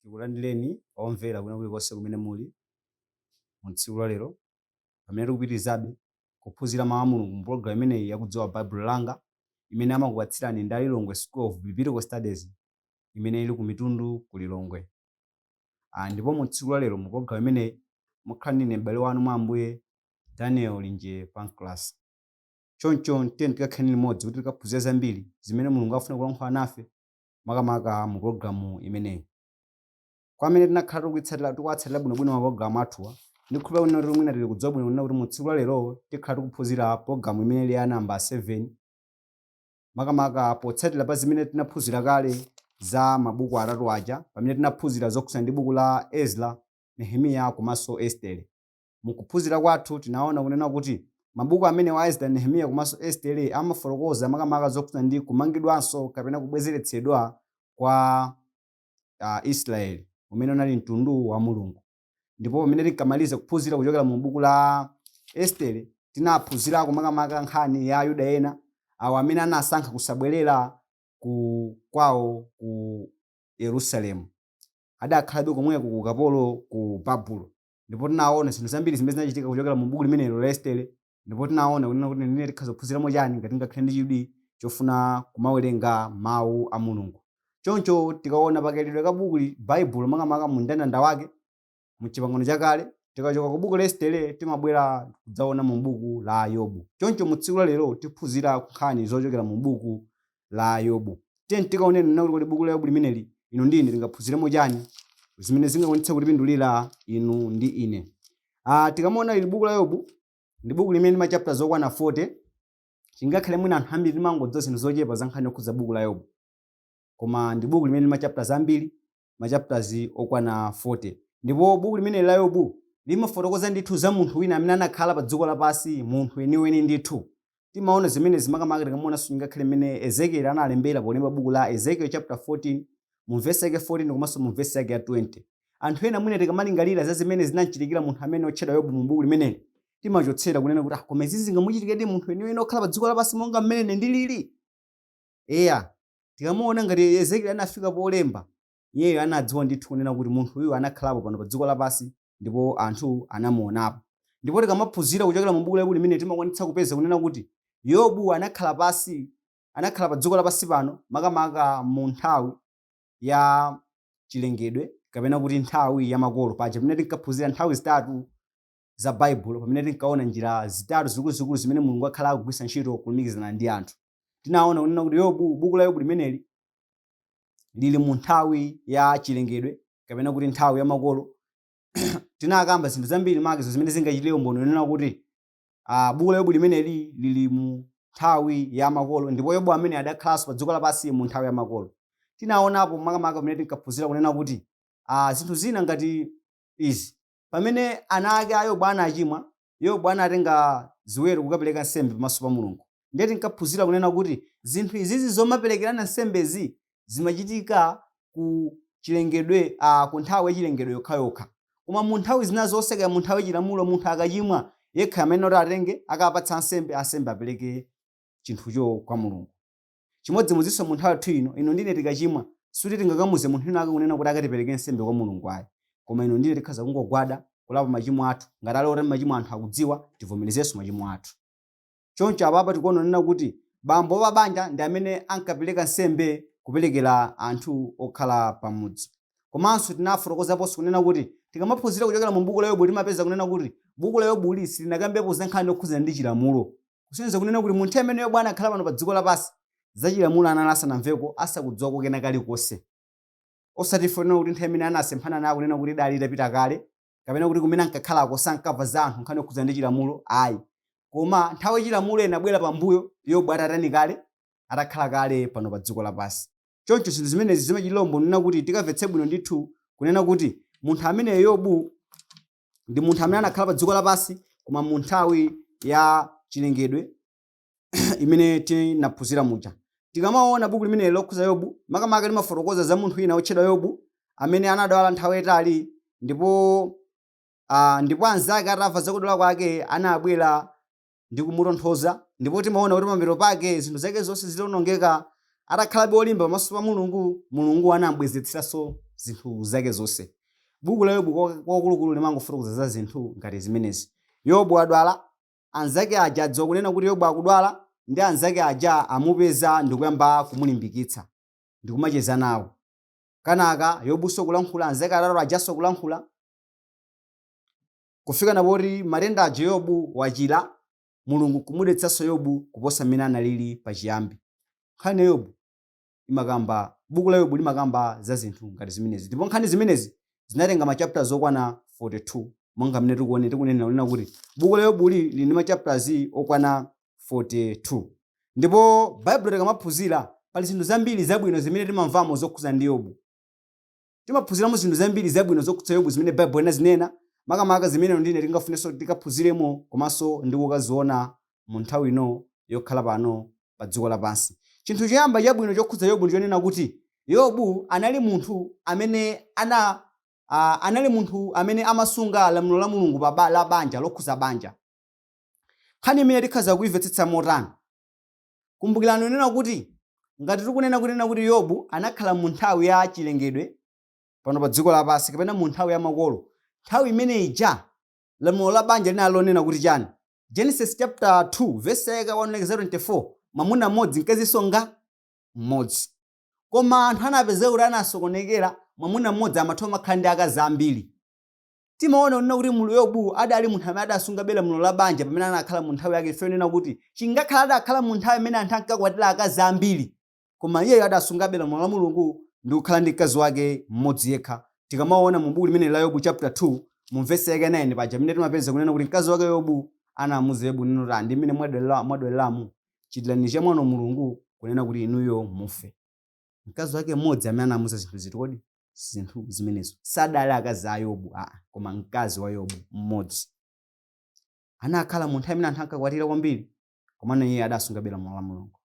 Tikulandireni omvera kwina kulikonse kumene muli mu tsiku la lero, pamene tikupitirizabe kuphunzira Mawu a Mulungu mu pologalamu imeneyi ya Kudziwa Baibulo Langa, imene amakupatsirani ndi Lilongwe School of Biblical Studies imene ili ku Mitundu ku Lilongwe. Ah, ndipo mu tsiku la lero mu pologalamu imeneyi mukhala ndi ine m'bale wanu mwa Ambuye Daniel Linje Pancras. Choncho tiyeni tikakhale limodzi kuti tikaphunzire zambiri zimene Mulungu akufuna kulankhula nafe makamaka mu pulogalamu imeneyi. Kwa amene tinakhala tikuitsatira tikuwatsatira bwinobwino mapulogalamu athuwa, ndikhulupirira kunena kuti mwina tili kudziwa bwino kunena kuti mu tsiku la lero tikhala tikuphunzira pulogalamu imene ili ya namba 7 makamaka potsatira pa zimene tinaphunzira kale za mabuku atatu aja pamene tinaphunzira zokhudzana ndi buku la Ezra, Nehemiya komanso Estere. M'kuphunzira kwathu tinaona kunena kuti mabuku amenewa a Ezra, Nehemiya komanso Estere amafotokoza makamaka zokhudzana ndi kumangidwanso kapena kubwezeretsedwa kwa Israeli umene unali mtundu wa Mulungu. Ndipo pamene tinkamaliza kuphunzira kuchokera mu buku la Estere tinaphunzirako makamaka nkhani ya Ayuda ena awo amene anasankha kusabwerera kwawo ku Yerusalemu. Adakhalabe komweko ku ukapolo ku Babulo. ndipo tinaona zinthu zambiri zimene zinachitika kuchokera mu buku limenelo la estere ndipo tinaona kunena kuti ndine tikhoza kuphunziramo chani ngati tingakhale ndi chidwi chofuna kumawerenga mawu a mulungu choncho tikaona pa kaikidwe ka buku li- baibulo makamaka mu mndandanda wake mu chipangano chakale tikachoka ku buku la estere timabwera kudzaona mu buku la yobu choncho mu tsiku la lero tiphunzira nkhani zochokera mu buku la Yobu. Tiyeni tikaone kunena kuti kodi buku la Yobu limeneli inu ndi ine tingaphunziremo chani zimene zingakwanitse kutipindulira inu ndi ine. Ah, tikamaona ili buku la Yobu ndi buku limene lili ndi machapters okwana 40 chingakhale mwina anthu ambiri timangodziwa zinthu zochepa za nkhani yokhudza buku la Yobu koma ndi buku limene lili ndi machapters ambiri machapters okwana 40. Ndipo buku limeneli la Yobu limafotokoza ndithu za munthu wina amene anakhala padziko lapansi, munthu weniweni ndithu. Timaona zimenezi makamaka tikamaonanso ngakhale mmene Ezekieli analembera polemba buku la Ezekiel chapter 14 mu vesi yake 14 komanso mu vesi yake ya 20. Anthu ena mwina tikamalingalira za zimene zinamchitikira munthu ameneyu otchedwa Yobu mu buku limeneli, timachotsera kunena kuti ah, koma izi zingamuchitikiredi munthu weniweni okhala padziko lapansi monga mmene ine ndilili? Eya, tikamaona ngati Ezekieli anafika polemba, iyeyo anadziwa ndithu kunena kuti munthu uyu anakhalapo pano pa dziko lapansi ndipo anthu anamuonapo. Ndipo tikamaphunzira kuchokera mu buku la Yobu limeneli timakwanitsa kupeza kunena kuti Yobu anakhala pansi, anakhala pa dziko lapansi pano makamaka mu nthawi ya chilengedwe kapena kuti nthawi ya makolo paja pamene tinkaphunzira nthawi zitatu za Baibulo pamene tinkaona njira zitatu zikuluzikulu zimene Mulungu wakhala akugwiritsa ntchito kulumikizana ndi anthu. Tinaona kunena kuti Yobu, buku la Yobu limeneli lili mu nthawi ya chilengedwe kapena kuti nthawi ya makolo. Tinakamba zinthu zambiri makizo zimene zingachitire umboni kunena kuti ah, buku la Yobu limeneli lili mu nthawi ya makolo ndipo Yobu amene adakhalanso pa dziko lapansi mu nthawi ya makolo. Tinaonapo makamaka pamene tinkaphunzira kunena kuti ah, zinthu zina ngati izi Pamene ana ake a Yobu anachimwa, Yobu anatenga ziweto kukapereka nsembe pamaso pa Mulungu. Ndiye tinkaphunzira kunena kuti zinthu izizi zomaperekerana nsembezi zimachitika ku chilengedwe a ku nthawi ya chilengedwe yokhayokha. Koma mu nthawi zina zonse kaya mu nthawi ya chilamulo munthu akachimwa yekha amayenera kuti atenge akapatsa ansembe, ansembe apereke chinthucho kwa Mulungu. Chimodzimodzinso mu nthawi yathu ino, inu ndi ine tikachimwa, sikuti tingakamuuze munthu wina wake kunena kuti akatiperekere nsembe kwa Mulungu ayi. Koma inu ndi ine tikhaza kungogwada, kulapa machimo athu, ngati ali oti machimo anthu akudziwa, tivomerezenso machimo athu. Choncho apapa tikuona kunena kuti bambo wa pabanja ndi amene ankapereka nsembe kuperekera anthu okhala pa mudzi. Komanso tinafotokozaponso kunena kuti tikamaphunzira kuchokera mu buku la Yobu timapeza kunena kuti buku la Yobuli silinakambepo za nkhani yokhudzana ndi chilamulo. kusonyeza kunena kuti munthawi imene Yobu anakhala pano padziko lapansi, za Chilamulo anali asanamveko, asakudziwako kena kalikonse. Osati kunena kuti nthawi imene anasemphana nayo kunena kuti idali itapita kale, kapena kuti kumene ankakhalako sankamva za anthu nkhani yokhudzana ndi Chilamulo, ayi. Koma nthawi ya Chilamulo inabwera pambuyo Yobu atatani kale? Atakhala kale pano padziko lapansi. Choncho zinthu zimenezi zimachitira umboni kunena kuti tikamvetse bwino ndithu kunena kuti munthu ameneyo Yobu, ndi munthu amene anakhala pa dziko lapansi koma mu nthawi ya chilengedwe imene tinaphunzira muja tikamaona buku limeneli lokhuza yobu makamaka limafotokoza za munthu wina wotchedwa yobu amene anadwala nthawi yayitali ndipo ah, ndipo anzake atamva zakudwala kwake anabwera ndi kumutonthoza ndipo timaona kuti pamapeto pake zinthu zake zonse zitaonongeka atakhalabe olimba pamaso pa mulungu mulungu anambwezeretsanso zinthu zake zonse buku la yobu kwa- kwakulukulu limangofotokoza za zinthu ngati zimenezi yobu adwala anzake aja adziwa kunena kuti yobu akudwala ndi anzake aja amupeza ndikuyamba kumulimbikitsa ndikumacheza nawo kenaka yobuso kulankhula anzake atatu ajaso kulankhula kufika na poti matenda aja Yobu wachira, Mulungu n'kumudalitsanso Yobu kuposa mmene analili pachiyambi. Nkhani ya Yobu imakamba, Buku la Yobu limakamba za zinthu ngati zimenezi. Ndipo nkhani zimenezi zinatenga machaputala okwana 42, monga mmene tikuone- tikunenera kunena kuti buku la Yobuli lili ndi machaputala okwana 42. Ndipo Baibulo tikamaphunzira, pali zinthu zambiri zabwino zimene timamvamo zokhudza ndi Yobu. Timaphunziramo zinthu zambiri zabwino zokhudza Yobu zimene Baibulo linazinena, makamaka zimene inu ndi ine tingafunenso kuti tikaphunziremo komanso ndi kukaziona mu nthawi ino yokhala pano pa dziko lapansi. Chinthu choyamba chabwino chokhudza Yobu ndi chonena kuti Yobu anali munthu amene ana a anali munthu amene amasunga lamulo la Mulungu pa ba, la banja lokhudza banja. Nkhani imeneyi tikhoza kuimvetsetsa motani? Kumbukirani unena kuti ngati tikunena kunena kuti Yobu anakhala mu nthawi ya chilengedwe pano pa dziko lapansi kapena mu nthawi ya makolo, nthawi imene ija lamulo la banja linali lonena kuti chani? Genesis chapter 2 verse yake 1 kulekeza 24 mwamuna mmodzi mkazinso ndi mmodzi. Koma anthu anapezeka kuti anasokonekera mwamuna mmodzi amatha kumakhala ndi akazi ambiri. Timaona kunena kuti mulu Yobu adali munthu amene adasungabe lamulo la banja pamene anakhala mu nthawi yake chifukwa yonena kuti chingakhale adakhala mu nthawi imene anthu ankakwatira akazi ambiri koma iyeyo adasungabe lamulo la Mulungu ndi kukhala ndi mkazi wake mmodzi yekha. Tikamaona mu buku limeneli la Yobu chapter 2 mu vesi yake 9 paja pamene timapeza kunena kuti mkazi wake Yobu anamuuza Yobu kunena kuti ndi mmene mwadwalira mwadwaliramu chitirani chamwano Mulungu kunena kuti inuyo mufe. mkazi wake mmodzi amene anamuza zinthu ziti kodi zinthu zimenezo sadali akazi a yobu aa koma mkazi wa yobu mmodzi anakhala mu nthawi imene anthu ankakwatira kwambiri komano iye adasungabe lamulo la mulungu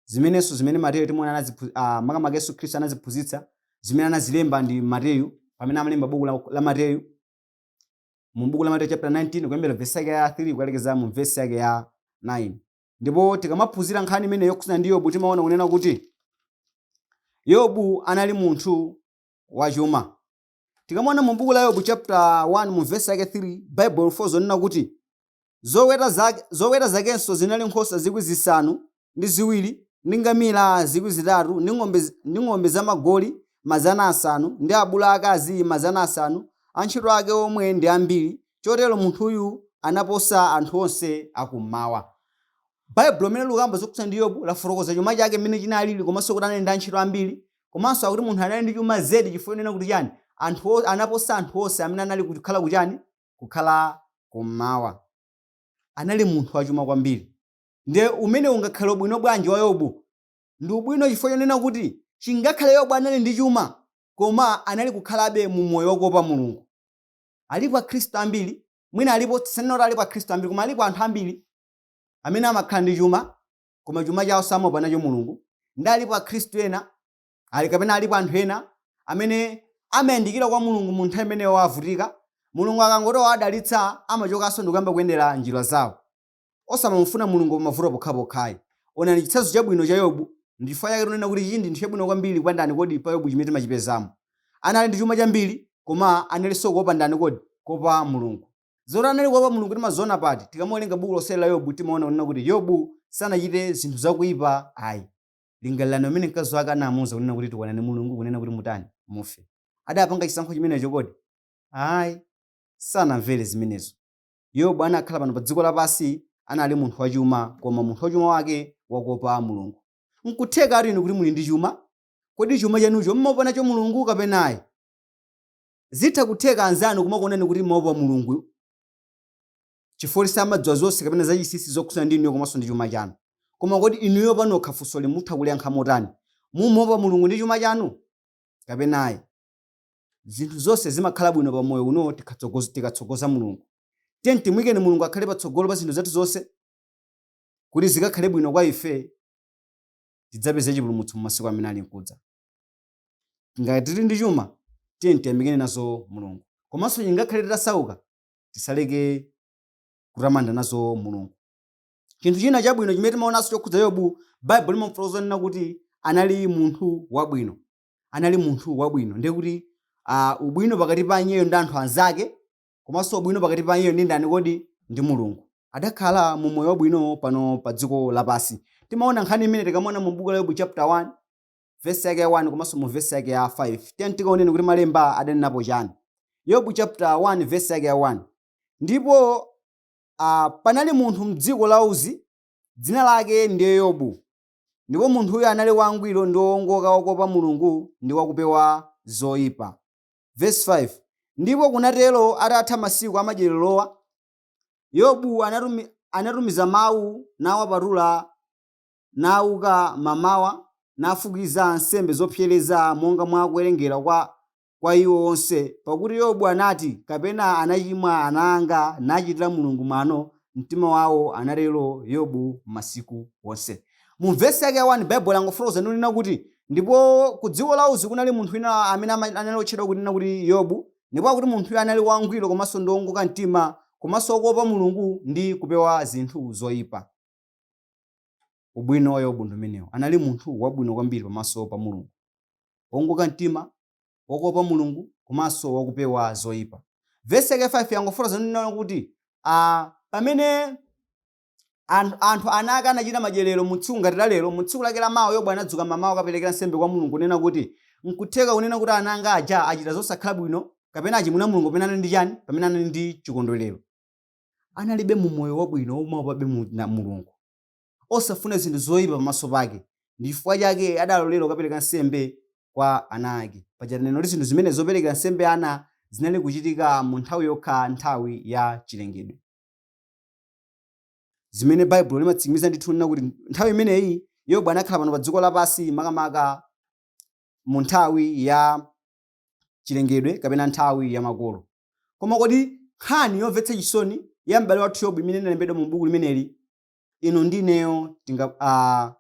zimenenso zimene mateyu timaona anaziphu- ah, makamaka yesu khristu anaziphunzitsa zimene anazilemba ndi mateyu pamene amalemba buku la, la mateyu mu buku la mateyu chapter 19 kuyambira vesi yake ya 3 kukalekeza mu vesi yake ya 9 ndipo tikamaphunzira nkhani imeneyi yokhudzana ndi yobu timaona kunena kuti yobu anali munthu wachuma tikamaona mu buku la yobu chapter 1 mu vesi yake 3 bible lifotokoza kunena kuti zoweta zake zoweta zakenso zinali nkhosa zikwi zisanu ndi ziwiri ndi ngamira zikwi zitatu ndi ng'ombe zi- ndi ng'ombe zamagoli mazana asanu ndi abulu akazi mazana asanu antchito ake omwe ndi ambiri Chotero munthuyu anaposa anthu onse a Kum'mawa. Baibulo limeneli likukamba zokhudzana ndi Yobu lafotokoza chuma chake mmene chinalili komanso kuti anali ndi antchito ambiri. Komanso akuti munthu anali ndi chuma zedi chifukwa chonena kuti chani? Anthu o- anaposa anthu onse amene anali kukhala kuchani? Kukhala Kum'mawa. Anali munthu wachuma kwambiri. Ndiye umenewu ungakhale ubwino bwanji wa Yobu? Ndi ubwino chifukwa chonena kuti chingakhale Yobu anali ndi chuma koma anali kukhalabe mu moyo wakuopa Mulungu. Alipo Akhristu ambiri, mwina alipo, sindikunena kuti alipo Akhristu ambiri, koma alipo anthu ambiri amene amakhala ndi chuma koma chuma chawo samaopa nacho Mulungu, ndi alipo Akhristu ena ali kapena alipo anthu ena amene amayandikira kwa Mulungu mu nthawi imene iwo avutika. Mulungu akangoti wawadalitsa amachokanso ndi kuyamba kuyendera njira zawo. osamamufuna Mulungu pamavuto pokhapokha ayi. Onani chitsanzo chabwino cha Yobu, ndi chifukwa chake tikunena kuti chinthu ndi chabwino kwambiri kwa ndani kodi pa Yobu chimene timachipezamo. Anali ndi chuma chambiri, koma analinso kuopa ndani kodi? Kuopa Mulungu. Zoti anali kuopa Mulungu timaziona pati? Tikamawerenga buku lonse la Yobu timaona kunena kuti Yobu sanachite zinthu zakuipa ayi. Lingalirani pamene mkazi wake anamuuza kunena kuti tukwanani Mulungu kunena kuti mutani? Mufe. Adapanga chisankho chimenecho kodi? Ayi. Sanamvere zimenezo. Yobu anakhala pano pa dziko lapansi, anali munthu wachuma, koma munthu wachuma wake wakuopa Mulungu. Nkutheka tu inu kuti muli ndi chuma. Kodi chuma chanucho mmaopa nacho Mulungu kapena ayi? Zitha kutheka anzanu kumakuonani kuti mmaopa Mulungu chifukwa kuti samadziwa zonse kapena zachinsinsi zokhudzana ndi inuyo komanso ndi chuma chanu. Koma kodi inuyo panokha funsoli mutha kuliyankha motani? Mumaopa Mulungu ndi chuma chanu kapena ayi? Zinthu zonse zimakhala bwino pa moyo uno tikatsogoza Mulungu. Tiyeni timuyikeni Mulungu akhale patsogolo pa zinthu zathu zonse kuti zikakhale bwino kwa ife, tidzapeze chipulumutso mu masiku amene ali mkudza. Ngati tili ndi chuma, tiyeni tiyamikeni nazo Mulungu. Komanso chingakhale titasauka, tisaleke kutamanda nazo Mulungu. Chinthu china chabwino chimene timaonanso chokhudza Yobu, Baibulo limamufotokoza nena kuti anali munthu wabwino. anali munthu wabwino ndiye kuti ubwino pakati pa iyeyo ndi anthu anzake komanso ubwino pakati pa iyeyo ndi ndani kodi ndi mulungu adakhala mu moyo wabwino pano pa dziko lapansi timaona nkhani imene tikamaona mu buku la yobu chapter 1 vesi yake ya 1 komanso mu vesi yake ya 5 tiyeni tikaoneni kuti malemba adanenapo chani yobu chapter 1 vesi yake ya 1 ndipo uh, panali munthu mdziko la uzi dzina lake ndiye yobu Ndipo munthuyo anali wangwiro ndi woongoka wakuopa Mulungu ndi wakupewa zoipa. Vesi 5, Ndipo kunatero atatha masiku amadyererowa, Yobu anatumiza mau nawapatula, nauka mamawa nafukiza nsembe zopsereza monga mwa kuwerengera kwa kwa iwo onse, pakuti Yobu anati, kapena anachimwa ana anga, nachitira Mulungu mwano m'mtima wawo, anatero Yobu masiku onse. Mu vesi yake ya 1 Baibulo langofotokoza ndi kunena kuti, ndipo ku dziko la Uzi kunali munthu wina amene ama- anali otchedwa kunena kuti Yobu, ndipo akuti munthuyo anali wangwiro komanso ndi wongoka mtima komanso wokuopa Mulungu ndi kupewa zinthu zoyipa. Ubwino wa Yobu ndi umenewo. Anali munthu wabwino kwambiri pamaso pa Mulungu, wowongoka mtima, wokopa Mulungu komanso wakupewa zoipa. Vesi yake ya 5 yangofotokoza kunena kuti a pamene anthu anthu ana ake anachita madyerero mu tsiku ngati la lero, mu tsiku lake la mawa Yobu anadzuka mamawa kukaperekera nsembe kwa Mulungu kunena kuti, N'kutheka kunena kuti ana anga aja achita zosakhala bwino kapena achimwira Mulungu pamene anali ndi chani? Pamene anali ndi chikondwerero. anali ndi moyo wabwino womuopabe mulungu osafuna zinthu zoyipa pamaso pake ndi chifukwa chake adalolera kukapereka nsembe kwa ana ake paja tanena kuti zinthu zimene zoperekera nsembe ana zinali kuchitika mu nthawi yokha nthawi ya chilengedwe zimene baibulo limatsimikiza ndithu nena kuti nthawi imeneyi yobu anakhala pano pa dziko lapansi makamaka mu nthawi ya chilengedwe kapena nthawi ya makolo. Koma kodi nkhani yomvetsa chisoni ya m'bale wathu Yobu imene inalembedwa mu buku limeneli, inu ndi ineyo tinga ah,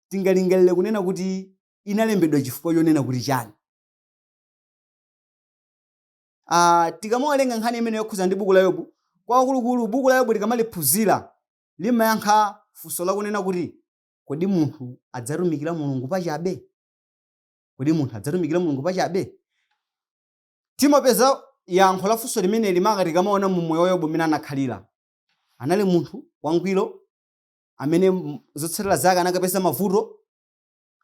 tingalingalire kunena kuti inalembedwa chifukwa chonena kuti chani? Ah, tikamaiwerenga nkhani imene yokhudzana ndi buku la Yobu, kwakulukulu buku la Yobu tikamaliphunzira limayankha funso lakunena kuti kodi munthu adzatumikira Mulungu pachabe? Kodi munthu adzatumikira Mulungu pachabe? Timapeza yankho la funso limeneli maka tikamaona mu moyo wa Yobu mmene anakhalira. Anali munthu wangwiro amene m- zotsatira zake anakapeza mavuto.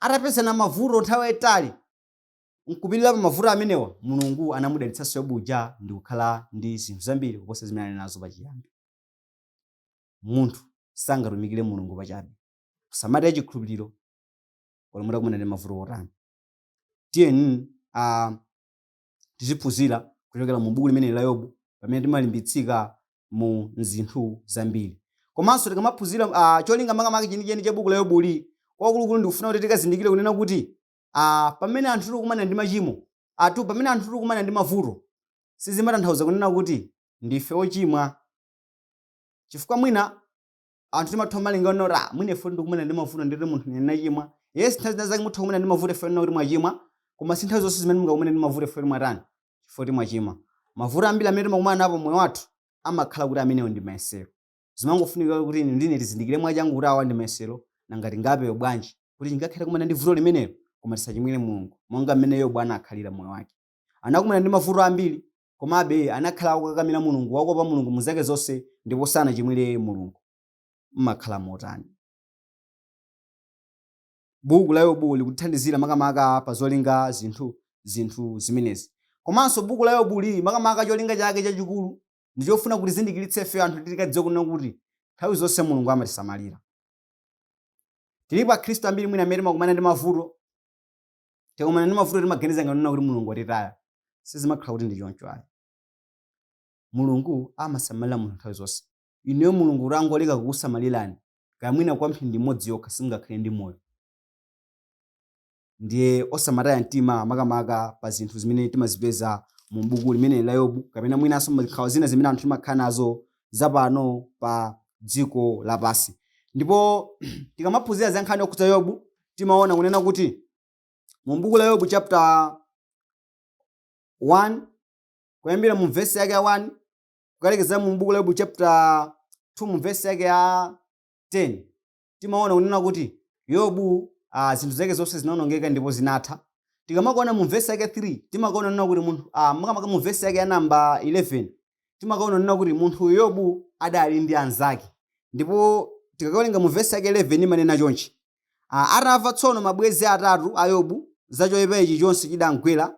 Atapezana ndi mavuto nthawi yaitali, nkupirira pa mavuto amenewa, Mulungu anamudalitsanso Yobu uja ndi kukhala ndi zinthu zambiri kuposa zimene anali nazo pachiyambi. Munthu sangatumikire Mulungu pachabe. Kusamalira chikhulupiriro olo mutakumana ndi mavuto otani tiyeni uh, tiziphunzira kuchokera mu buku limeneli la yobu pamene timalimbitsika mu zinthu zambiri komanso tikamaphunzira uh, cholinga makamaka chenicheni cha buku la yobuli kwakulukulu ndikufuna kuti tikazindikire kunena kuti uh, pamene anthu tikukumana ndi machimo ah pamene anthu tikukumana ndi mavuto sizimatanthauza kunena kuti ndife ochimwa chifukwa mwina anthu timatha kumalingalira kuti mwina poti ndikukumana ndi mavuto ndiri munthu ndiye ndachimwa yes nthawi zina zake mutha kumana ndi mavuto chifukwa choti mwachimwa koma si nthawi zonse zimene mungakumane ndi mavuto chifukwa choti mwatani chifukwa choti mwachimwa mavuto ambiri amene timakumana nawo pa moyo wathu amakhala kuti amenewo ndi mayesero zimangofunika kuti inu ndi ine tizindikire mwachangu kuti awa ndi mayesero nanga tingapewe bwanji kuti chingakhale takumana ndi vuto limenelo koma tisachimwire mulungu monga mmene yobu anakhalira moyo wake anakumana ndi mavuto ambiri Komabe, anakhala akukakamira Mulungu, wakuopa Mulungu mu zake zonse, ndipo sanachimwire Mulungu. Mmakhala motani? Buku la Yobu likutithandizira makamaka pa zolinga zinthu zinthu zimenezi. Komanso buku la Yobuli, makamaka cholinga chake chachikulu ndi chofuna kutizindikiritsa ife anthu kuti tikadziwe kunena kuti nthawi zonse Mulungu amatisamalira. Tilipo Akhristu ambiri mwina amene timakumana ndi mavuto, tikakumana ndi mavuto timaganiza ngati kuti mulungu watitaya sizimakhala kuti ndi choncho ayi mulungu amasamalira munthu nthawi zonse ineyo mulungu atangoleka kukusamalirani kaya mwina kwa mphindi imodzi yokha simungakhale ndi moyo ndiye osamataya mtima makamaka pa zinthu zimene timazipeza mu buku limene la yobu kapena mwinanso nkhawa zina zimene anthu timakhala nazo zapano pa dziko lapansi ndipo tikamaphunzira za nkhani yokhudza yobu timaona kunena kuti mu buku la Yobu chapter 1 kuyambira mu vesi yake ya 1 kukalekezera mu buku la Yobu chapter 2 mu vesi yake ya 10 timaona kunena kuti Yobu ah, zinthu zake zonse zinaonongeka ndipo zinatha tikamaona mu vesi yake 3 timaona kunena kuti munthu ah, makamaka mu vesi yake ya namba 11 timaona kunena kuti munthu Yobu adali ndi anzake ndipo tikawerenga mu vesi yake 11 imanena chonchi a Atamva tsono mabwenzi atatu a Yobu za choipa ichi chonse chidamgwera,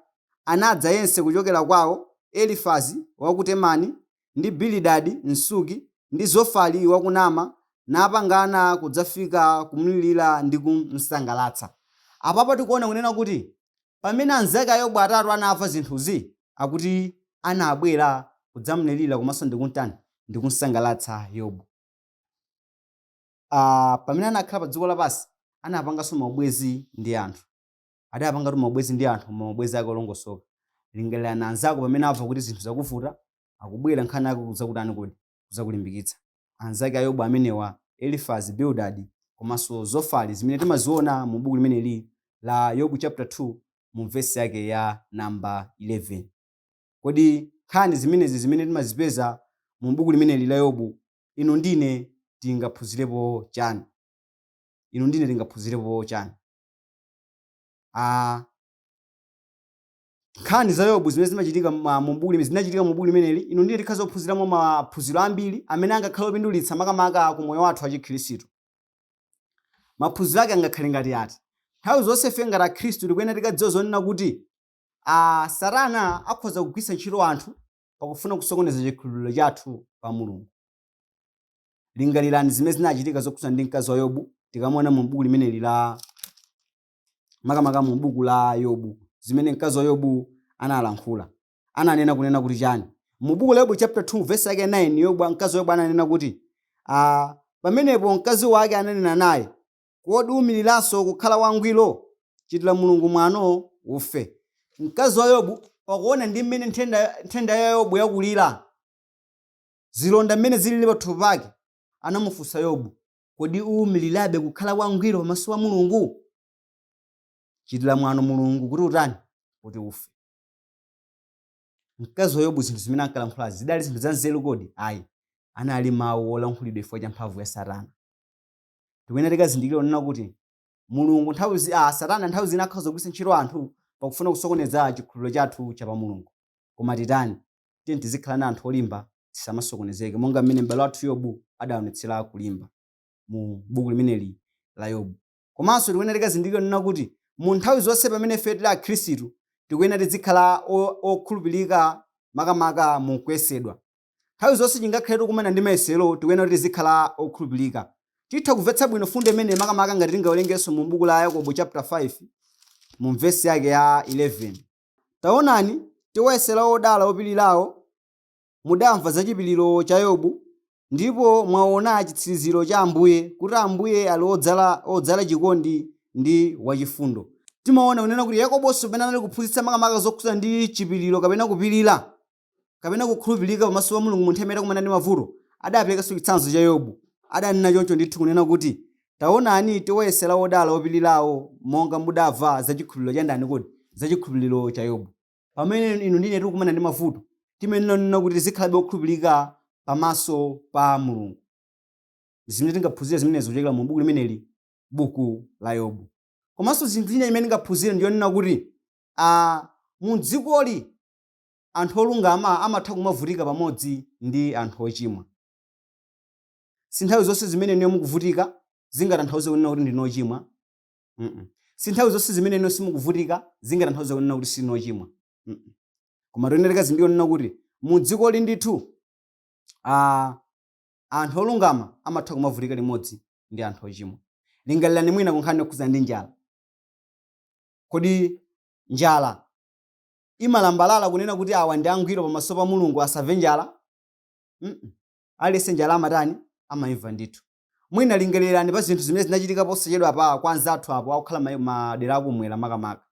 anadza yense kuchokera kwao, Elifazi wa ku Temani, ndi Bilidadi Msuki, ndi Zofari wa ku Naama, napangana kudzafika kumlirira ndi kumsangalatsa. Apapa tikuona kunena kuti pamene anzake a Yobu atatu anamva zinthuzi, akuti anabwera kudzamlirira komanso ndi kumtani, ndi kumsangalatsa Yobu. uh, pamene anakhala pa dziko lapansi anapanganso maubwenzi ndi anthu adapangatu maubwenzi ndi anthu koma maubwenzi ake olongosoka lingalirani anzako pamene amva kuti zinthu zakuvuta akubwera nkhani yake kudzakutani kodi kudzakulimbikitsa anzake a yobu amenewa elifazi bildadi komanso zofari zimene timaziona mu buku limeneli la yobu chapter 2 mu vesi yake ya namba 11 kodi nkhani zimenezi zimene timazipeza mu buku limeneli la yobu inu ndi ine tingaphunzirepo chani? Inu ndi ine tingaphunzirepo chani? Ah, nkhani za Yobu zimene zimachitika ma- mu buku limene zinachitika mu buku limeneli, inu ndi ine tikhoza kuphunziramo maphunziro ambiri amene angakhale opindulitsa makamaka ku moyo wathu wachikhristu. Maphunziro ake angakhale ngati ati? Nthawi zonse ife ngati Akhristu tikuyenera tikudziwa zonena kuti ah, Satana akhoza kugwiritsa ntchito anthu pakufuna kusokoneza chikhulupiriro chathu pa Mulungu. Lingalirani zimene zinachitika zokhudzana ndi mkazi wa Yobu tikamaona mu buku limeneli la makamaka mu buku la Yobu zimene mkazi wa Yobu analankhula. Ananena kunena kuti chani? Mu buku la Yobu chapter 2 verse yake 9 Yobu mkazi wa Yobu ananena kuti ah, pamenepo mkazi wake ananena naye kodi uumiriranso kukhala wangwiro? Chitira Mulungu mwano, ufe. Mkazi wa Yobu pakuona ndi mmene nthenda, nthenda ya Yobu yakulira, zilonda mmene zilili pathupi pake, anamufunsa Yobu, Kodi uumirirabe kukhala wangwiro pamaso pa Mulungu? Chitira mwano Mulungu kuti utani? Kuti ufe. Mkazi wa Yobu zinthu zimene ankalankhulazi zidali zinthu zanzeru kodi? Ayi. Anali mawu olankhulidwa chifukwa cha mphamvu ya Satana. tikuyenera tikazindikire kunena kuti mulungu nthawi zi- ah, satana nthawi zina akhoza kugwiritsa ntchito anthu pakufuna kusokoneza chikhulupiriro chathu cha pa mulungu koma titani tiyeni tizikhalani anthu olimba tisamasokonezeke monga mmene m'bale wathu yobu adaonetsera kulimba mu buku limeneli la yobu komanso tikuyenera tikazindikire kunena kuti mu nthawi zonse pamene ife tili akhristu tikuyenera tizikhala o- okhulupirika makamaka mu kuyesedwa Nthawi zonse tingakhale tikukumana ndi mayesero, tikuyenera tizikhala okhulupirika. Titha kumvetsa bwino fundo imeneyi makamaka ngati tingawerengenso mu buku la Yakobo chapter 5 mu vesi yake ya 11. Taonani, tiwayesera odala opirirawo, mudamva za chipiriro cha Yobu, ndipo mwaona chitsiriziro cha Ambuye, kuti Ambuye ali odzala, odzala chikondi ndi wachifundo. Timaona kunena kuti Yakobonso pamene anali kuphunzitsa makamaka zokhudzana ndi chipiriro kapena kupirira, kapena kukhulupirika pamaso pa Mulungu mu nthawi imene akukumana ndi mavuto, adaperekanso chitsanzo cha Yobu. Adanena choncho ndithu kunena kuti, Taonani, tiwayesera odala opirirawo, monga mudamva za chikhulupiriro cha ndani kodi? Za chikhulupiriro cha Yobu. Pamene inu ndi ine tikukumana ndi mavuto, timayenera kunena kuti tizikhalabe okhulupirika pamaso pa Mulungu. Ndi zimene tingaphunzire zimenezo kuchokera mu buku limeneli, buku la Yobu. Komanso chinthu china chimene tingaphunzire ndi chonena kuti, a, mu dzikoli, anthu olungama amatha kumavutika pamodzi ndi anthu ochimwa. Si nthawi zonse zimene inuyo mukuvutika zingatanthauze kunena kuti ndinu ochimwa. Mm-mm. Si nthawi zonse zimene inuyo simukuvutika zingatanthauze kunena kuti sinu ochimwa. Mm-mm. Koma tikuyenera tikadziwe kunena kuti mu dzikoli ndithu ah, anthu olungama amatha kumavutika limodzi ndi anthu ochimwa. Lingalirani mwina ku nkhani yokhudzana ndi njala. Kodi njala imalambalala kunena kuti awa ndi angwiro pamaso pa mulungu asamve njala mm aliyense njala amatani amaimva ndithu mwina lingalirani pa zinthu zimene zinachitika posachedwapa kwa anzathu apo okukhala ma- madera akumwera makamaka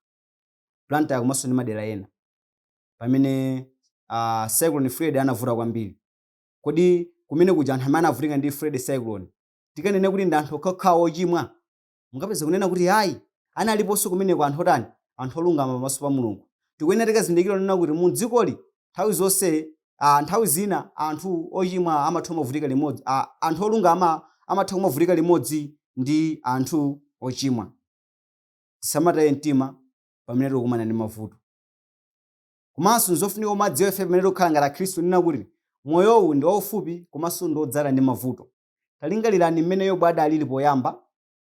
blantyre komanso ndi madera ena pamene uh, cyclone fred anavuta kwambiri kodi kumene kuja anthu amene anavutika ndi fred cyclone tikanene kuti ndi anthu okhaokhawo ochimwa Mungapeze kunena kuti ayi, analiponso kumeneko anthu otani? Anthu olungama pamaso pa Mulungu. Tikuyenera tikazindikire kunena kuti mu dzikoli nthawi zonse, a, nthawi zina anthu ochimwa amatha kumavutika limodzi, a, anthu olungama amatha kumavutika limodzi ndi anthu ochimwa. Tisamataye mtima pamene tikukumana ndi mavuto. Komanso nzofunika kumadziwa ife pamene tikukhala ngati Akhristu kunena kuti moyowu ndi waufupi komanso ndi wodzala ndi mavuto. Talingalirani mmene Yobu adaaliri poyamba,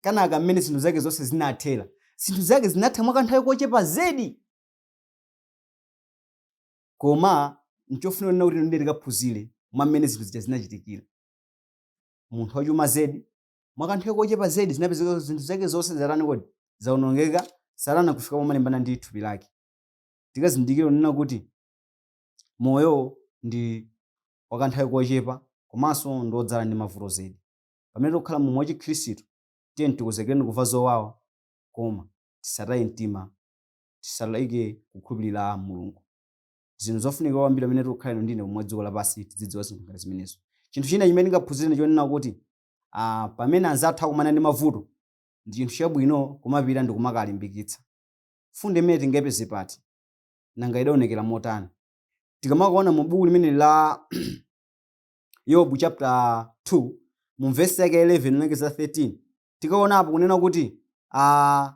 kenaka mmene zinthu zake zonse zinathera. Zinthu zake zinatha mwa kanthawi kochepa zedi! Koma nchofunika kunena kuti inu ndi ine tikaphunzire mwa mmene zinthu zija zinachitikira. Munthu wachuma zedi, mwa kanthawi kochepa zedi zinapezeka kuti zinthu zake zonse zatani kodi? Zaonongeka, Satana nkufika pomalimbana ndi thupi lake. Tikazindikire kunena kuti moyo ndi wa kanthawi kochepa komanso ndi wodzala ndi mavuto zedi. Pamene tikukhala moyo wachikhristu, tiyeni tikonzekere kuva zowawa koma tisataye mtima, tisaleke kukhulupirira Mulungu. Zinthu zofunikira kwambiri pamene tikukhala inu ndi ine m'dziko lapansi tidzidziwa zinthu ngati zimenezo. Chinthu china chimene tingaphunzire ndi chonena kuti ah, pamene anzathu akumana ndi mavuto, ndi chinthu chabwino kumapita ndi kumakawalimbikitsa. Mfundo imeneyi tingayipeze pati? Nanga idaonekera motani? tikamakaona mu buku limeneli la yobu chapter 2 mu vesi yake 11 kulekeza 13 tikaonapo kunena kuti ah,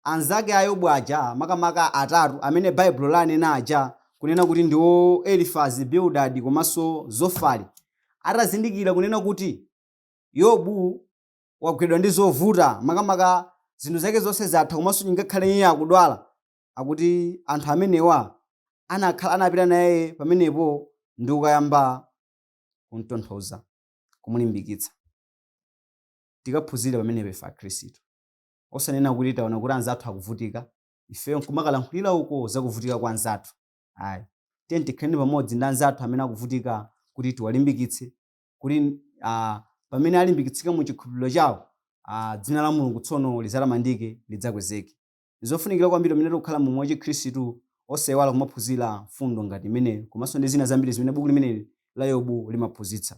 anzake a yobu aja makamaka atatu amene baibulo lanena aja kunena kuti ndiwo elifazi bildadi komanso zofari atazindikira kunena kuti yobu wagwidwa ndi zovuta makamaka zinthu zake zonse zatha komanso ngakhale iye akudwala akuti anthu amenewa anakhala anapita naye pamenepo ndi kukayamba kumtonthoza kumulimbikitsa tikaphunzire pamenepo ife akhristu osanena kuti taona kuti anzathu akuvutika ifeyo nkumakalankhulira uko zakuvutika kwa anzathu ayi tiyeni tikhaleni pamodzi ndi anzathu amene akuvutika kuti tiwalimbikitse kuti ah, pamene alimbikitsika mu chikhulupiriro chawo ah, dzina la mulungu tsono lizatamandike lidzakwezeke Ndizofunikira kwambiri pamene tikukhala mu moyo wachikhristu osaiwala kumaphunzira mfundo ngati imeneyo komanso ndi zina zambiri zimene buku limeneli la Yobu limaphunzitsa.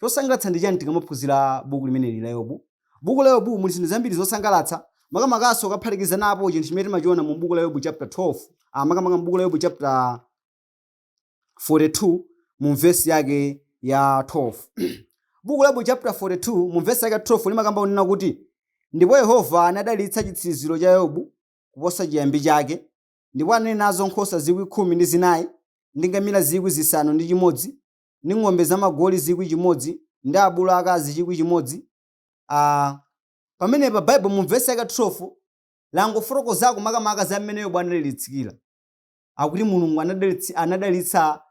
Chosangalatsa ndi chani tikamaphunzira buku limeneli la Yobu? Buku la Yobu muli zinthu zambiri zosangalatsa makamakanso ukaphatikizapo chinthu chimene timachiona mu buku la Yobu chapter 12, aah makamaka mu buku la Yobu chapter. 42 mu vesi yake ya 12 buku la Yobu chapter 42 mu vesi yake ya 12 limakamba kunena kuti ndipo yehova anadalitsa chitsiriziro cha yobu kuposa chiyambi chake ndipo anali nazo nkhosa zikwi khumi ndi zinayi ndi ngamira zikwi zisanu ndi chimodzi ndi ng'ombe zamagoli chikwi chimodzi ndi abulu akazi chikwi chimodzi Ah, pamenepa baibulo mu vesi yake 12 langofotokozako makamaka za mmene yobu anadalitsikira akuti mulungu anadalitsi- anadalitsa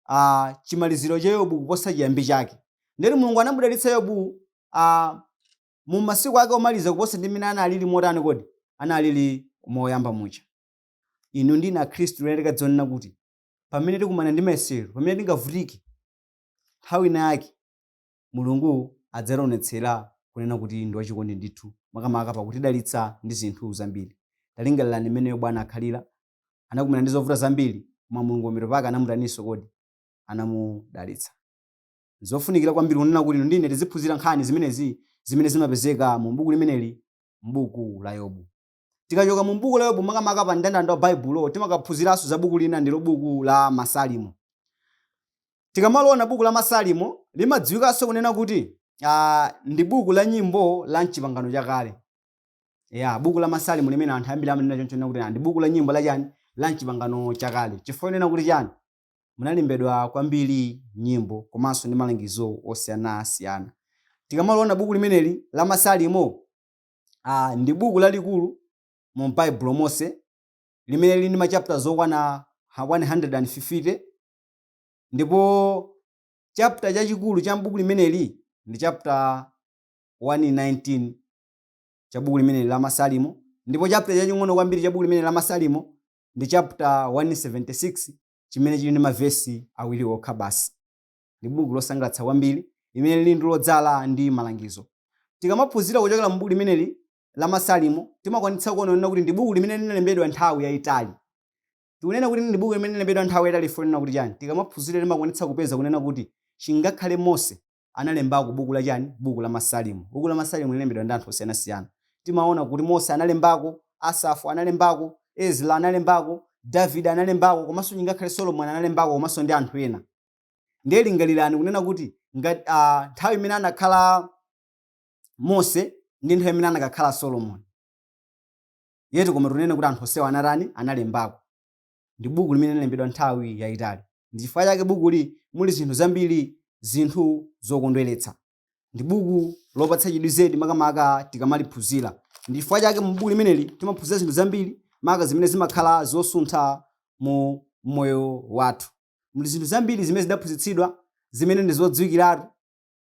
ah, chimaliziro cha yobu kuposa chiyambi chake ndeti mulungu anamudalitsa yobu ah, mu masiku ake omaliza kuposa ndi mmene analili motani kodi analili moyamba muja inu ndi ine akhristu lero tikadziwa kunena kuti pamene tikumana ndi mayesero pamene tingavutike nthawi ina yake mulungu adzaonetsera kunena kuti ndi wachikondi ndithu makamaka pakutidalitsa ndi zinthu zambiri talingalirani mmene yobu anakhalira Anakumana ndi zovuta zambiri, koma Mulungu pambuyo pake anamutaninso kodi? Anamudalitsa. N'zofunikira kwambiri kunena kuti inu ndi ine tiziphunzira nkhani zimenezi zimene zimapezeka mu buku limeneli, m'buku la Yobu. Tikachoka mu buku la Yobu, makamaka pa mndandanda wa Baibulo, timakaphunziranso za buku lina, ndilo buku la Masalimo. Tikamaliona buku la Masalimo, limadziwikanso kunena kuti ah, ndi buku la nyimbo la m'Chipangano Chakale. ya buku la masalimo limene anthu ambiri amanena choncho kunena kuti "Ah, ndi buku la nyimbo la chani la mchipangano chakale chifukwa kunena kuti chani munalembedwa kwambiri nyimbo komanso ndi malangizo osiyanasiyana tikamaliona buku limeneli la masalimo ah, ndi buku lalikulu mu baibulo monse limene lili ndi machapter zokwana 150 ndipo chapter chachikulu cha mbuku limeneli ndi chapter 119 cha buku limeneli la Masalimo ndipo chapter chaching'ono kwambiri cha buku limeneli la Masalimo ndi chapter 176 chimene chili ndi mavesi awiri okha basi. Ndi buku losangalatsa kwambiri limene lili ndi lodzala ndi malangizo. Tikamaphunzira kuchokera mu buku limeneli la Masalimo timakwanitsa kuona kuti ndi buku limene linalembedwa nthawi yayitali. Tikunena kuti ndi buku limene linalembedwa nthawi yayitali chifukwa kunena kuti chani? Tikamaphunzira timakwanitsa kupeza kunena kuti chingakhale Mose analembako buku la chani? Buku la Masalimo. Buku la Masalimo linalembedwa ndi anthu osiyanasiyana. Timaona kuti Mose analembako, Asafu analembako, Ezra analembako, Davide analembako komanso chingakhale Solomon analembako komanso ndi anthu ena. Ndiye lingalirani kunena kuti ngati ah, nthawi imene anakhala Mose ndi nthawi imene anakhala Solomon. Ndiyetu koma tikunena kuti anthu onsewa anatani? Analembako. ndi buku limene linalembedwa nthawi yayitali. Ndi chifukwa chake bukuli muli zinthu zambiri, zinthu zokondweretsa. Ndi buku lopatsa chidwi zedi makamaka tikamaliphunzira. Ndi chifukwa chake mu buku limeneli timaphunzira zinthu zambiri maka zimene zimakhala zosuntha mu moyo wathu. Muli zinthu zambiri zimene zidaphunzitsidwa zimene ndi zodziwikiratu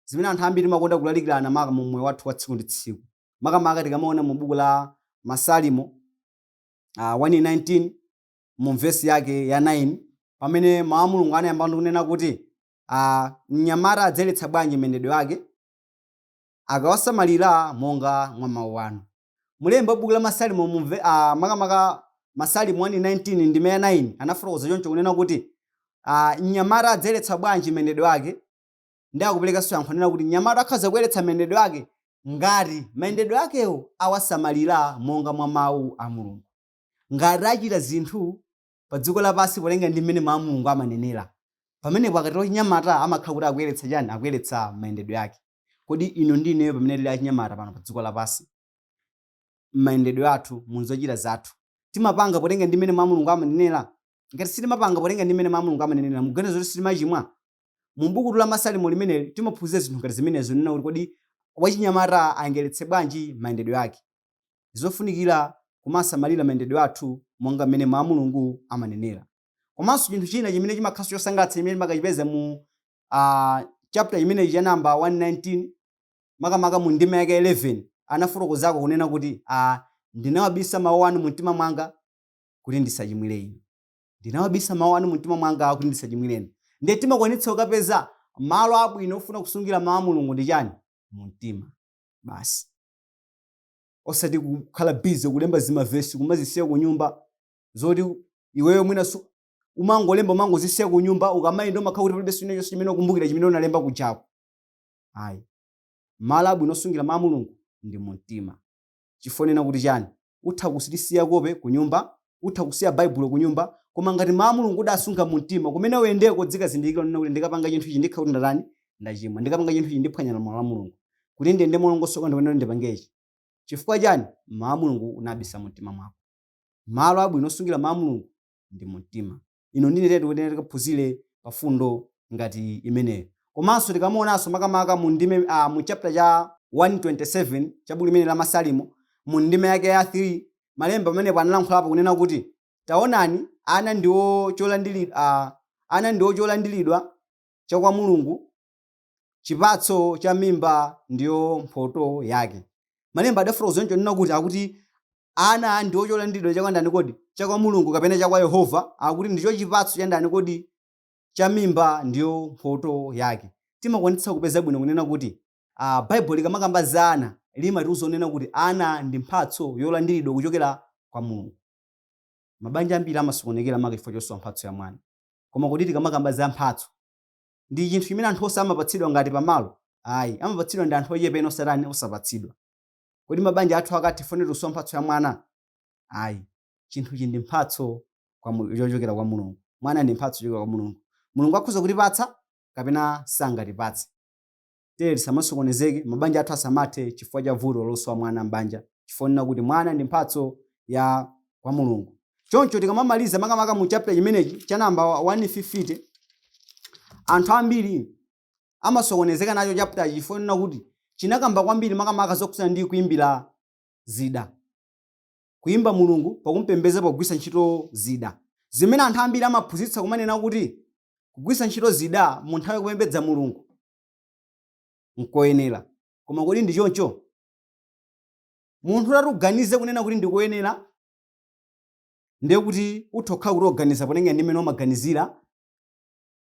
zimene anthu ambiri timakonda kulalikirana maka mu moyo wathu wa tsiku ndi tsiku. Makamaka tikamaona mu buku la Masalimo uh, 119 mu vesi yake ya 9 pamene mawu a Mulungu anayamba ndi kunena kuti uh, mnyamata adzayeretsa bwanji mayendedwe ake akawasamalira monga mwa mawu anu mlembi wa buku la Masalimo mumve uh, makamaka Masalimo 119 ndime ya 9 anafotokoza choncho kunena kuti uh, mnyamata adzayeretsa bwanji mayendedwe ake Ndiye akuperekanso yankho kunena kuti mnyamata akhoza kuyeretsa mayendedwe ake ngati mayendedwe akewo awasamalira monga mwa Mau a Mulungu. Ngati achita zinthu padziko lapansi potengera ndi mmene Mau a Mulungu amanenera, pamenepo akatero wachinyamata amakhala kuti akuyeretsa chani? Akuyeretsa mayendedwe ake. Kodi inu ndi ineyo pamene tiri achinyamata pano padziko lapansi, mmayendedwe athu, munzochita zathu, timapanga potengera ndi mmene Mau a Mulungu amanenera? Ngati sitimapanga potengera ndi mmene Mau a Mulungu amanenera, mukuganiza kuti sitimachimwa? Mu bukutu la Masalimo limeneli timaphunzira zinthu ngati zimenezi zonena kuti kodi wachinyamata ayeretse bwanji mayendedwe ake. N'zofunikira kumasamalira mayendedwe athu monga mmene Mawu a Mulungu amanenera. Komanso chinthu china chimene chimakhalanso chosangalatsa chimene timakachipeza mu a, chaputala chimenechi cha namba 119, makamaka mu ndime yake 11, anafotokozako kunena kuti a ndinawabisa mawu anu mumtima mwanga kuti ndisachimwire inu. Ndinawabisa mawu anu mumtima mwanga kuti ndisachimwire inu. Ndiye timakwanitsa kukapeza malo abwino ofuna kusungira mawu a Mulungu ndi chani? Mumtima basi. Osati kukhala busy kulemba zimavesi kumazisiya kunyumba zoti iweyo mwina su umangolemba umangozisiya kunyumba ukamayenda umakhala kuti palibenso china chonse chimene ukumbukira chimene unalemba kujako. Ayi. Malo abwino osungira mawu a Mulungu ndi mumtima. chifonena kuti chani? Utha kuzisiya kope kunyumba, utha kusiya Baibulo kunyumba, koma ngati Mawu a Mulungu udasunga mu mtima, kumene uyendeko udzikazindikira kunena kuti ndikapanga chinthu ichi ndikhala kuti ndatani? Ndachimwa. Ndikapanga chinthu ichi ndiphwanya malamulo a Mulungu. Kuti ndiyende molongosoka ndikuyenera kuti ndipange ichi. Chifukwa chani? Mawu a Mulungu unabisa mu mtima mwako. Malo abwino osungira Mawu a Mulungu ndi mu mtima. ino ndi nenetu kuti tikaphunzire pa mfundo ngati imeneyo komanso tikamaonanso makamaka mu ndime uh, mu chaputala cha 127 cha buku limeneli la Masalimo mu ndime yake ya 3 malemba pamenepo analankhulapo kunena kuti taonani ana ndiwo cholandiri uh, ana ndiwo cholandiridwa cha kwa Mulungu chipatso cha mimba ndiyo mphoto yake. Malemba adafotokoza chonchi kunena kuti akuti ana ndiwo cholandiridwa cha kwa ndani kodi? Cha kwa Mulungu kapena cha kwa Yehova? Akuti ndicho chipatso cha ndani kodi? Cha mimba ndiyo mphoto yake. Timakwanitsa kupeza bwino kunena kuti uh, Baibulo likamakamba za ana limatiuza kunena kuti ana ndi mphatso yolandiridwa kuchokera kwa Mulungu. Mabanja ambiri amasokonekera maka chifukwa chosowa mphatso ya mwana. Koma kodi tikamakamba za mphatso ndi chinthu chimene anthu onse amapatsidwa ngati pamalo? Ayi, amapatsidwa ndi anthu ochepa ena osatani, osapatsidwa. Kodi mabanja athu akathe chifukwa chosowa mphatso ya mwana? Ayi, chinthu ichi ndi mphatso kwa Mul- yochokera kwa Mulungu. Mwana ndi mphatso yochokera kwa Mulungu. Mulungu akhoza kutipatsa kapena sangatipatse. Tiyeni tisamasokonezeke, mabanja athu asamathe chifukwa cha vuto losowa mwana m'banja, chifukwa chonena kuti mwana ndi mphatso ya kwa Mulungu. Choncho tikamamaliza makamaka mu chapter chimenechi cha namba 150, anthu ambiri amasokonezeka nacho chapter chifukwa chonena kuti chinakamba kwambiri makamaka zokhudzana ndi kuimbira zida kuyimba Mulungu pakumpembedza pogwisa ntchito zida zimene anthu ambiri amaphunzitsa kumanena kuti kugwisa ntchito zida mu nthawi yokupembedza Mulungu nkoyenera koma kodi ndi choncho munthu utati uganize kunena kuti ndikoyenera ndiye kuti utha kukhala kuti ukuganiza potengera ndi mmene umaganizira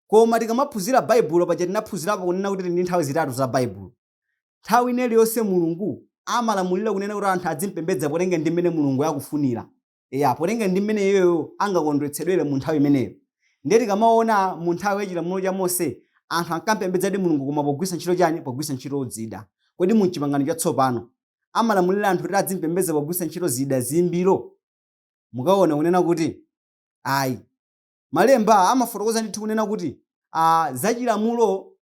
koma tikamaphunzira baibulo paja tinaphunzirapo kunena kuti tili ndi nthawi zitatu za baibulo nthawi ina iliyonse mulungu amalamulira kunena kuti anthu adzimpembedza potengera ndi mmene mulungu akufunira ya potengera ndi mmene iyeyo angakondwetsedwere mu nthawi imeneyo ndiye tikamaona mu nthawi ya chilamulo cha mose anthu ankampembedzadi mulungu koma pogwisa ntchito chani pogwisa ntchito zida kodi mu chipangano chatsopano amalamulira anthu kuti adzimpembedza pogwisa ntchito zida zoimbira mukaona kunena kuti ayi malemba amafotokoza ndithu kunena kuti ah, zachilamulo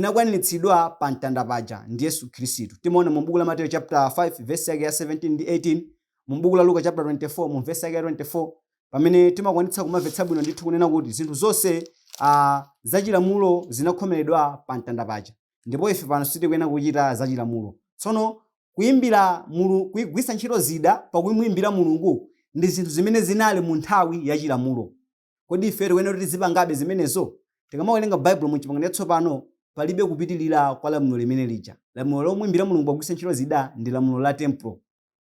zinakwaniritsidwa pa mtanda paja ndi Yesu Khristu. Timaona mu buku la Mateyu chapter 5 verse yake ya 17 ndi 18, mu buku la Luka chapter 24 mu verse yake ya 24 pamene timakwanitsa kumamvetsa bwino ndithu kunena kuti zinthu zonse uh, zachilamulo zinakhomeredwa pa mtanda paja ndipo ife pano sitikuyenera kuchita zachilamulo. Tsono kuimbira mulungu kugwisa ntchito zida pakumuimbira mulungu ndi zinthu zimene zinali mu nthawi ya chilamulo Kodi ife tikuyenera kuti tizipangabe zimenezo? Tikamawerenga Baibulo mu Chipangano Chatsopano, palibe kupitirira kwa lamulo limene lija. Lamulo lomuimbira Mulungu pogwisa ntchito zida ndi lamulo la tempulo.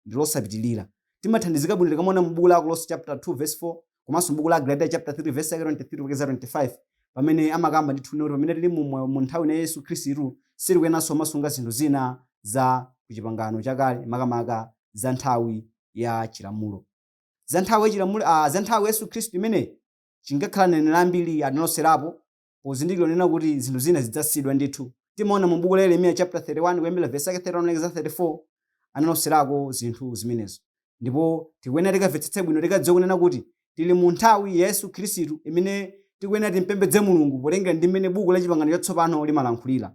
Ndi losapitirira. Timathandizika bwino tikamaona mu buku la Akolose chapter 2 verse 4 komanso mu buku la Agalatiya chapter 3 verse yake 23 kufikira 25 pamene amakamba ndithu kunena kuti pamene tili mu moyo mu nthawi ino ya Yesu Khristu sitikuyeneranso kumasunga zinthu zina za ku Chipangano chakale makamaka za nthawi ya Chilamulo. Za nthawi ya chilamulo, a, za nthawi ya Yesu Khristu imeneyi, chingakhale aneneri ambiri analoserapo pozindikira kunena kuti zinthu zina zidzasiyidwa ndithu. Timaona mu Buku la Yeremiya chapter 31 kuyambira verse yake 31 kulekeza 34, analoserako zinthu zimenezo. Ndipo tikuyenera tikamvetsetse bwino tikadziwe kunena kuti tili mu nthawi ya Yesu Khristu imene tikuyenera timpembedze Mulungu potengera ndi mmene Buku la Chipangano Chatsopano limalankhulira.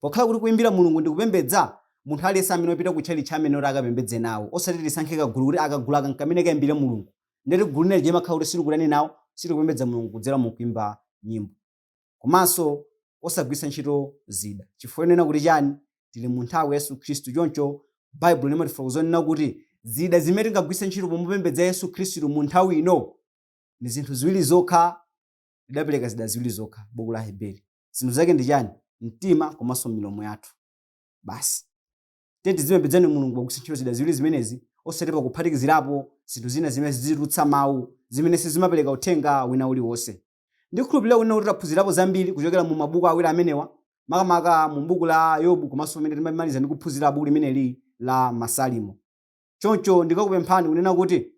pokhala kuti kuimbira mulungu ndi kupembedza munthu aliyense amene wapita ku tchalitchi amayenera kuti akapembedze nawo osati tisankhe kagulu kuti kagulu aka nkamene kaimbire mulungu ndeti gulu linali limakhala kuti silikutani nawo silikupembedza mulungu kudzera mu kuimba nyimbo komanso osagwiritsa ntchito zida chifukwa yonena kuti chani tili mu nthawi ya yesu khristu choncho baibulo limatifotokozera kunena kuti zida zimene tingagwiritse ntchito pomupembedza yesu khristu mu nthawi ino ndi zinthu ziwiri zokha lidapereka zida ziwiri zokha buku la aheberi Zinthu zake ndi chani? Mtima komanso milomo yathu. Basi. Tiyeni tizimupembedzani Mulungu pogwiritsa ntchito zida ziwiri zimenezi osati pakuphatikizirapo zinthu zina zimene zizitulutsa mawu, zimene sizimapereka uthenga wina uliwonse. Ndikhulupirira kunena kuti taphunzirapo zambiri kuchokera mu mabuku awiri amenewa, makamaka mu buku la Yobu komanso pamene timamaliza ndi kuphunzira buku limeneli la Masalimo. Choncho ndikakupempheni kunena kuti.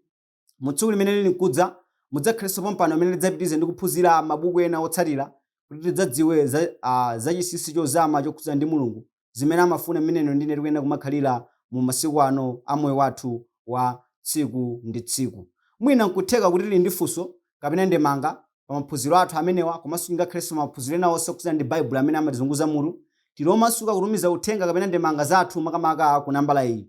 mu tsiku limene lili nkudza mudzakhalenso pompano pamene tidzapitirize ndi kuphunzira mabuku ena otsatira kuti tidzadziwe za, uh, za chinsinsi chozama chokhudzana ndi mulungu zimene amafuna mmene inu ndi ine tikuyenera kumakhalira mu masiku ano a moyo wathu wa tsiku ndi tsiku mwina nkutheka kuti tili ndi funso kapena ndemanga pa maphunziro athu amenewa komanso ngakhalenso maphunziro ena onse okhudzana ndi baibulo amene amatizunguza mutu tili omasuka kutumiza uthenga kapena ndemanga zathu makamaka ku nambala iyi